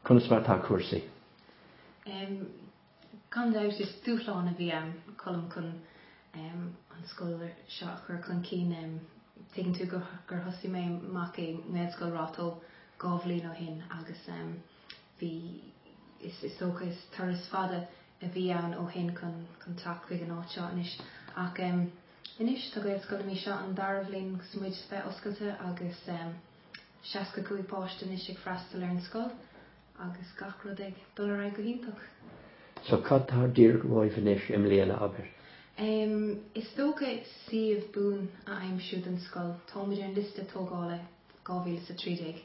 Conas mar atá cúrsaí? Em, gan dabht is dúshlán a bhí ann, Colm, chun em, an scoil ar- seo a chur chun cinn. Em, tuigeann tú gur, gur thosaigh mé amach i nGaelscoil Ráth Tó dhá bhliain ó shin agus em, bhí, is, is dócha is turas fada a bhí ann ó shin chun, chun teacht chuig an áit seo anois ach em, anois tá Gaelscoil na Mí seo an dara bhliain agus muid bheith oscailte agus em, 65 páiste anois ag freastal ar an scoil agus gach rud ag dul ar aghaidh go hiontach. So cad tá díreach romhaibh anois i mbliana, abair? Em, is dócha suíomh buan a aimsiú don scoil. Táimid ar an liosta tógála 2013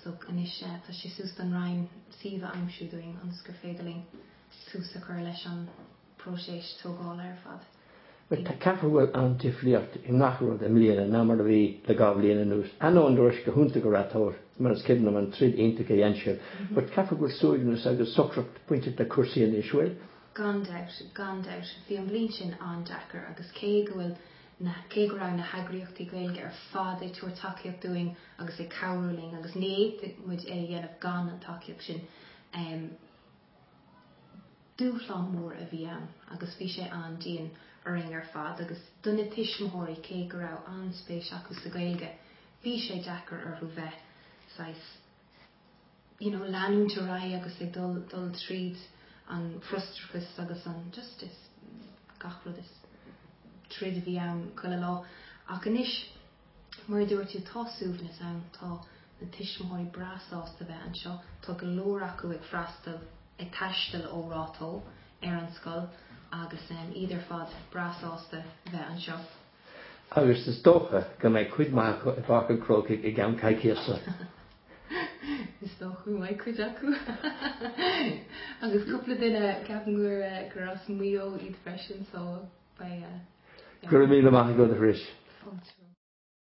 so anois eh, tá sé suas don Roinn suíomh a aimsiú dúinn ionas gur féidir linn tús a chur leis an bpróiseas tógála ar fad. Caithfidh go bhfuil an-difriocht i ngach rud i mbliana ná mar a bhi le dhá bhliain anuas, ainneoin go raibh sé go hiontach go raibh toradh air mar is cuimhin liom an troid iontach a dhein sibh. But caithfidh go bhfuil suaimhneas agus socracht bainteach le cúrsaí anois, bhfuil? Gan dabht, gan dabht. Bhí an bhliain sin an-deacair agus cé go bhfuil na, cé go raibh na heagraíochtaí Gaeilge ar fad ag tabhairt tacaíocht dúinn agus ag cabhrú linn agus ní fhéadfadh muid é a dhéanamh gan an tacaíocht sin, Dúshlán mór a bhí ann agus bhí sé an-dian orainn ar fad agus do na tuismitheoirí, cé go raibh an-spéis acu sa Ghaeilge, bhí sé deacair orthu bheith, saghas, you know, leanúint ar aghaidh agus ag dul, dul tríd an frustrachas agus an, just, is, gach rud is, troid a bhí ann chuile lá. Ach anois. Mar a dúirt tú, tá suaimhneas ann, tá na tuismitheoirí breá sásta bheith anseo, tá go leor acu ag freastal, ag taisteal ó Ráth Tó ar an scoil agus iad ar fad breá sásta bheith anseo. Agus is dócha go mbeidh cuid maith acu i bPáirc an Chrócaigh i gceann coicíosa! Is dá chu mai chuid acu agus cúpla duine ceapúair eh, gur as muo iad freisin só ba eh, gur mí amach go a ris.